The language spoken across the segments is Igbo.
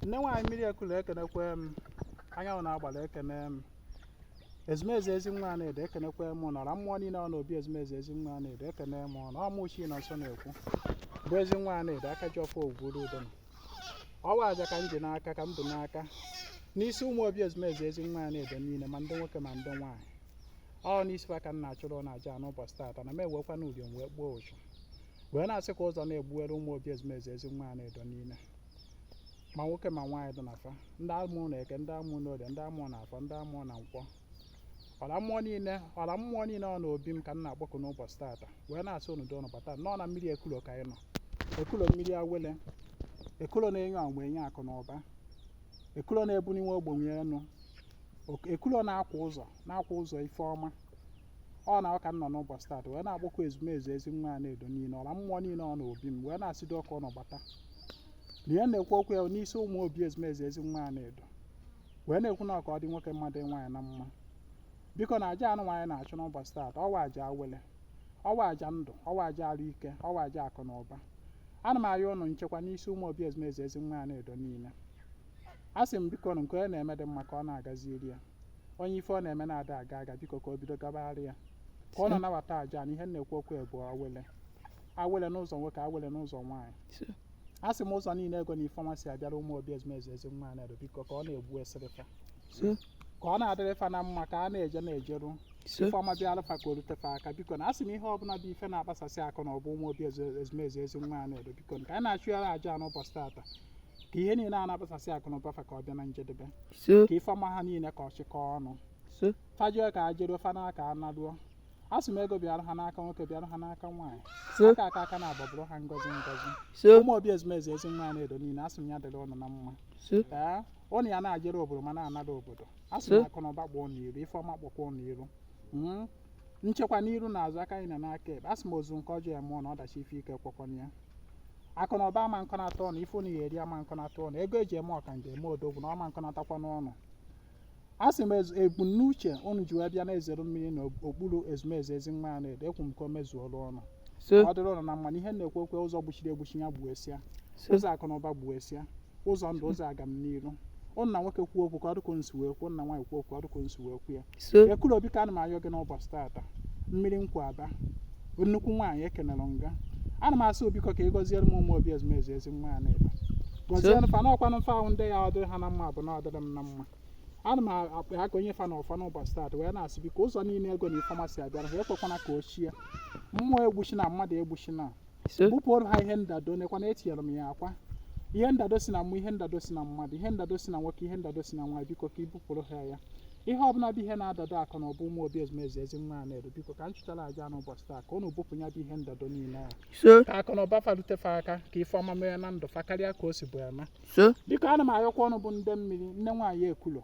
nne nwaanyị mmiri ekulu ekenekwe m anyanwụ na agbara ekene m ezumezu ezi nwa na-edo ekenekwe m ọra mmụọ niile ọ na obi ezumezu ezi nwa na-edo ekene m na ọ mụ Chinọnso na-ekwu bụ ezi nwa na-edo aka ji ọfọ ogwuru udo na ọ wụ aja ka m ji n'aka ka m bu n'aka n'isi ụmụ obi ezumezu ezi nwa na-edo niile ma ndị nwoke ma ndị nwaanyị ọ n'isi ha ka m na-achụrụ na aja n'ụbọchị taata na m ewekwanụ uriom wee gbuo ụchụ wee na-asị ka ụzọ na-egbuwere ụmụ obi ezumezu ezi nwa a na-edo niile ma nwoke ma nwaanyị dị na fa ndị amụ na eke ndị amụ na orie ndị amụ na afọ ndị amụ na nkwọ ọla mmụọ niile ọla mmụọ niile ọ na obi m ka m na-akpọku n'ụbọchị tata wee na-asị unu dị ụnụ bata nọ na mmiri ekulo ka anyị nọ ekulo mmiri awele ekulo na-enye ọmụ enye akụ na ụba ekulo na-ebuniwe ogbenye enu Ok- ekulo na-akwa ụzọ na-akwa ụzọ ife ọma ọ na ọ ka m nọ n'ụbọchị taata wee na-akpọku ezumezu ezi nwa a na-edo niile ọla mmụọ niile ọ na obi m wee na-asị biko ụnụ bata na ihe na-ekwu okwu ya n'isi ụmụ obi ezumezu ezi nwa a na-edo wee na-ekwu na ọ ka ọ dị nwoke mma dị nwaanyị na mma biko na aja anụnwa anyị na-achụ n'ụbọchị taata ọ wụ aja awele ọ wụ aja ndụ ọ wụ aja arụ ike ọ wụ aja akụ na ụba ana m arịọ ụnụ nchekwa n'isi ụmụ obi ezumezu ezi nwa a na-edo niile a sị m biko nke onye na-eme dị mma ka ọ na-agaziri ya onye ife ọ na-eme na-ada aga aga biko ka o bido gabara ya ka ụnụ nabata aja na ihe m na-ekwu okwu ya bụ awele awele n'ụzọ nwoke awele n'ụzọ nwaanyị So, a sị m ụzọ niile ego na ife ọma si abịara ụmụ obi ezumezu ezi nwa a na-edo biko ka ọ na-egbuesịrị fa so, ka ọ na-adịrị fa na mma ka a na-eje na-ejeru so, ife ọma bịalụ fa ka o rute fa aka biko na a sị m ihe ọbụla bụ ife na-akpasasị akụ na ụba ụmụ obi ezu- ezumezu ezi nwa a na-edo biko ka anyị na-achụ ya aja n'ụbọchị tata ka ihe niile a na-akpasasị akụ na ụba fa ka ọ bịa na njedebe so ka ife ọma ha niile ka ọ chịkọ ọnụ so fa jeo ka e jeruo fa naa ka a naduo asị m ego bịara ha n'aka nwoke bịara ha n'aka nwaanyị so aka aka aka na-agbabụrụ ha ngozi ngozi so ụmụ obi ezumezu ezi nwa na-edo niile asị m ya dịrị ụnụ na mma so ee ụnụ ya na-ejere obodo ma na-anara obodo asị m So. akụ na ụba kpọọ ụnụ iru ife ọma kpọkwa ụnụ iru Mm, nchekwa n'iru na azụ aka nni na aka ekpe a sị m ozu nke ọjọọ ya mụọ na ọdachi ife ike ekwekwana ya akụ na ụba ama kọnata ụnụ ife unu ya eri ama kọnata ụnụ ego eji eme ọka nje eme odogwu na ọ ma kọnatakwa ụnụ a sị m ezu- ebumnuche unu ji wee bịa na-ezere mmiri na okpuru ezumezu ezi nwa ya na-edo ekwu m ka o mezuolu ụnụ so ọ dịrị ụnụ na mma na ihe na-ekwu okwu ụzọ gbuchiri egbuchi ya gbuesịa so ụzọ akụ na ụba gbuesịa ụzọ ndụ ụzọ agamniru ụnụ na nwoke kwuo okwu ka ọ dịka ụnụ si wee kwuo ụnụ na nwaanyị kwuo okwu ka ọ dịka ụnụ si wee kwuo ya so ekuru o biko ana m ayọ gị n'ụbọchị tata mmiri nkwu aba nnukwu nwaanyị ekenere m gị ana m asị o biko ka ị gọziere m ụmụ obi ezumezu ezi nwa na-edo gọziere fa n'ọkwanụ mfa ahụ ndị ya ọ dịrị ha na mma bụ na ọ dịrị m na mma ana m akpa ha ka onye fa na ụfa n'ụbọchị tata wee na-asị biko ụzọ niile ego na ife ọma si abịara ha ekwekwana ka o chie mmụọ egbuchina mmadụ egbuchina so bupụrụ ha ihe ndado nekwa na etinyere m ya akwa ihe ndado si na mmụọ ihe ndado si na mmadụ ihe ndado si na nwoke ihe ndado si na nwaanyị biko ka i bupụrụ ha ya ihe ọbụla bụ ihe na-adado akụ na ụba ụmụ obi ezumezu ezi nwa Anaedo biko ka m chụtara aja n'ụbọchị taa ka unu bupụ ya bụ ihe ndado niile a so ka akụ na ụba fa lute fa aka ka ife ọma mee na ndụ fa karịa ka o sibu eme so biko ana m ayọkwa unu bụ ndị mmiri nne nwaanyị Ekulo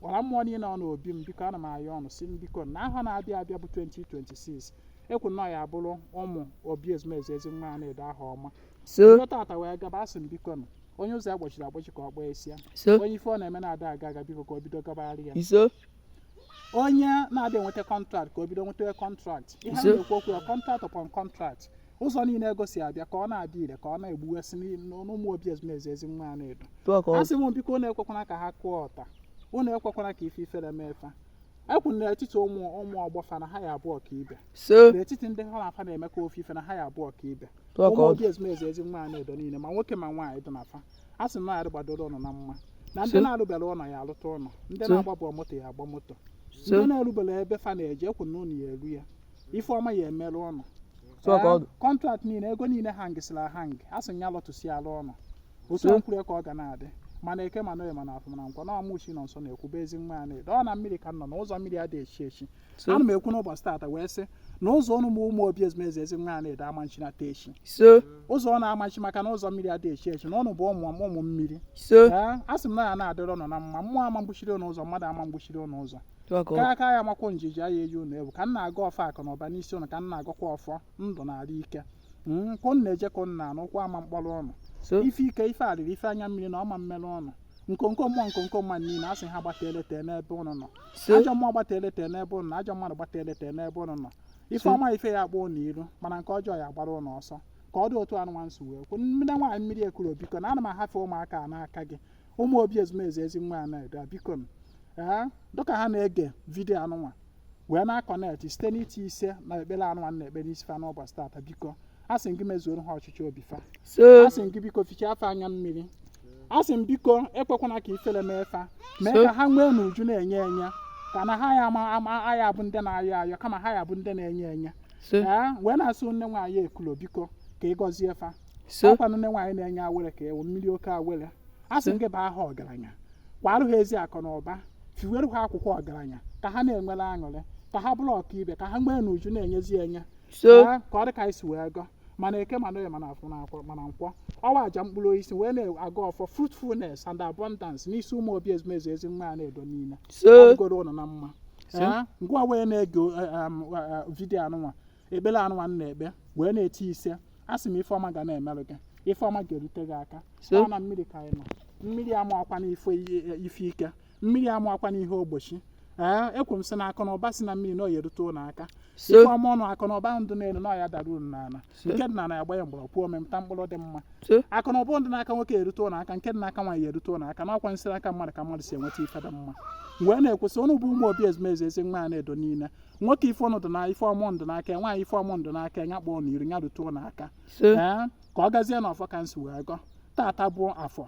ọla mmụọ niile nọ n'obi m biko ana m ayọ ụnụ sị m biko na ahọ na-abịa abịa bụ 2026 ekwu na ọ ya-abụrụ ụmụ obi ezumezu ezi nwa Anaedo ahọ ọma so bido tata wee gaba asị m bikonụ onye ụzọ ya gbochiri agbochi ka ọ gbaa esi ya so onye ife ọ na-eme na-ada aga aga biko ka o bido gabara ya iso onye na-adị enweta kọntraktị ka o bido nweta kọntraktị ihe a na-ekwu okwu ya kọntraktị upon kọntraktị ụzọ niile ego si abịa ka ọ na-adị ire ka ọ na-egbuwesị n'ụmụ obi ezumezu ezi nwa Anaedo a sị m biko unu ekwekwana ka ha kụọ ọta unu ekwekwana ka ife ifere mee fa ekwu n'etiti ụmụ ụmụ ọgbọ fa na ha ya-abụ ọkaibe n'etiti ndị ha na fa na-emekọ ofu ife na ha ya-abụ ọkaibe ụmụ obi ezumezu ezi nwa Anaedo niile ma nwoke ma nwaanyị dị na fa a sị na ya gbadoro ụnụ na mma na ndị na-alụbere ụlọ ya alụta ụlọ ndị na-agbabụ moto ya agba moto ndị na-erubere ebe fa na-eje ekwu na ụnụ ya eru ya ife ọma ya emere ụnụ Tụọ ka ọ- kọntrakt niile ego niile hangịsịrị ahang a sị ya lọtasịalụ ụnụ otu So- a m kwuru ka ọ ga na-adị ma na eke ma na oye ma na afọ ma na nkwọ na ọ mụ Chinọnso na-ekwu bụ ezi nwa Anaedo ọ na mmiri ka m nọ na ụzọ mmiri adịghị echi echi So- ana m ekwu n'ụbọchị taata wee sị na ụzọ ụnụ ụmụ obi ezumezu ezi nwa Anaedo ama nchinata echi so ụzọ ụnụ ama nchi maka na ụzọ mmiri adịghị echi echi na ụnụ bụ ụmụ ụmụ mmiri so Ee, a sị m na ya na-adịrị ụnụ na mma mmụọ ama mgbochiri ụnụ ụzọ mmadụ ama mgbochiri ụnụ ụzọ kara aka ya makwụ njiji aya eji unu ewu ka m na-agọ ọfọ akụ na ụba n'isi ụnụ ka m na-agọkwa ọfọ ndụ na arụ ike ka ụnụ na-eje ka ụnụ na-ana ụkwụ ama mkpọrọ ụnụ ife ike ife arịrị ife anya mmiri na ọ ma mmere ụnụ nkonko mmụọ nkonko mmadụ niile a sị ha gbata eleta n'ebe ụnụ nọ ajọ mmụọ gbata eleta n'ebe ụnụ nọ ajọ mmadụ gbata eleta n'ebe ụnụ nọ ife ọma ife ya akpọ ụnụ iru mana nke ọjọọ ya gbara ụnụ ọsọ ka ọ dị otu anụnwa m si wee kwu nne nwaanyị mmiri Ekulo biko na ana m ahafe ụmụaka a n'aka gị ụmụ obi ezumezu ezi nwa Anaedo a biko m ee dịka ha na-ege vidiyo anụnwa wee na-akọnektị site n'iti isee na ekpere anụnwa na-ekpe n'isi fa n'ụbọchị tata biko a sị m gị mezuoro ha ọchịchọ obi fa so a sị m gị biko fichaa fa anya mmiri a sị m biko ekwekwana ka ifere mee fa mee So- ka ha nwee n'uju na-enye enye ka na ha ya ama ama aya bụ ndị na-ayọ ayọ kama ha ya bụ ndị na-enye enye so ee wee na-asị nne nwaanyị Ekulo biko ka ị gọzie fa so ọ kwa nne nwaanyị na-enye awele ka ị bụ mmiri oke awele a sị m gị baa ha ọgaranya kwarụ ha ezi akụ na ụba fiwere ha akwụkwọ ọgaranya ka ha na-enwere aṅụrị ka ha bụrụ ọkaibe ka ha nwee n'uju na-enyezi enye so Ee, ka ọ dị ka anyị si wee gọ ma na eke ma na oye ma na afọ na akwọ ma na nkwọ ọwa aja mkpụrụ osisi wee na-agọ ọfọ fruitfulness and abundance n'isi ụmụ obi ezumezu ezi nwa Anaedo niile so ọ dịgoro ụnụ na mma So? Ee, ngwa wee na-ege eh, em, eh, eh, vidiyo anụnwa ekpere anụnwa m na-ekpe wee na-eti ise a sị m ife ọma ga na-emerụ gị ife ọma ga-erute gị aka ise ọ na mmiri ka anyị nọ mmiri ama akwa na ife i- ife ike mmiri ama akwa na ihe ogbochi ee ekwu m sị na akụ na ụba si na mmiri na ọ ya erute ụnụ aka ise ife ọma ụnụ akụ na ụba ụnụ dụ n'elu na ọ ya adara ụnụ n'ala ise nke dị n'ala ya gbanye mgbọrọgwụ ọ mịta mkpụrụ dị mma ise akụ na ụba ndị n'aka nwoke erute ụnụ aka nke dị n'aka nwaanyị erute ụnụ aka na ọkwa si n'aka mmadụ ka mmadụ si enweta ife dị mma wee na-ekwusị ụnụ bụ ụmụ obi ezumezu ezi nwa a na-edo niile nwoke ife ụnụ dị na ife ọma ụnụ dụ n'aka nwaanyị ife ọma ụnụ dụ n'aka ya kpọọ n'iru ya rute ụnụ aka isee ka ọ gazie na ọfọ ka m si wee gọ tata bụ afọ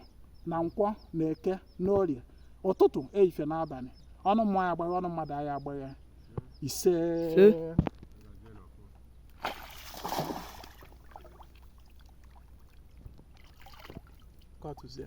na nkwọ na eke na orie ụtụtụ ehihie na abalị ọnụ mmụọ aya agbagha ọnụ mmadụ aya agbagha ise Ise. Ka ọ tụzie.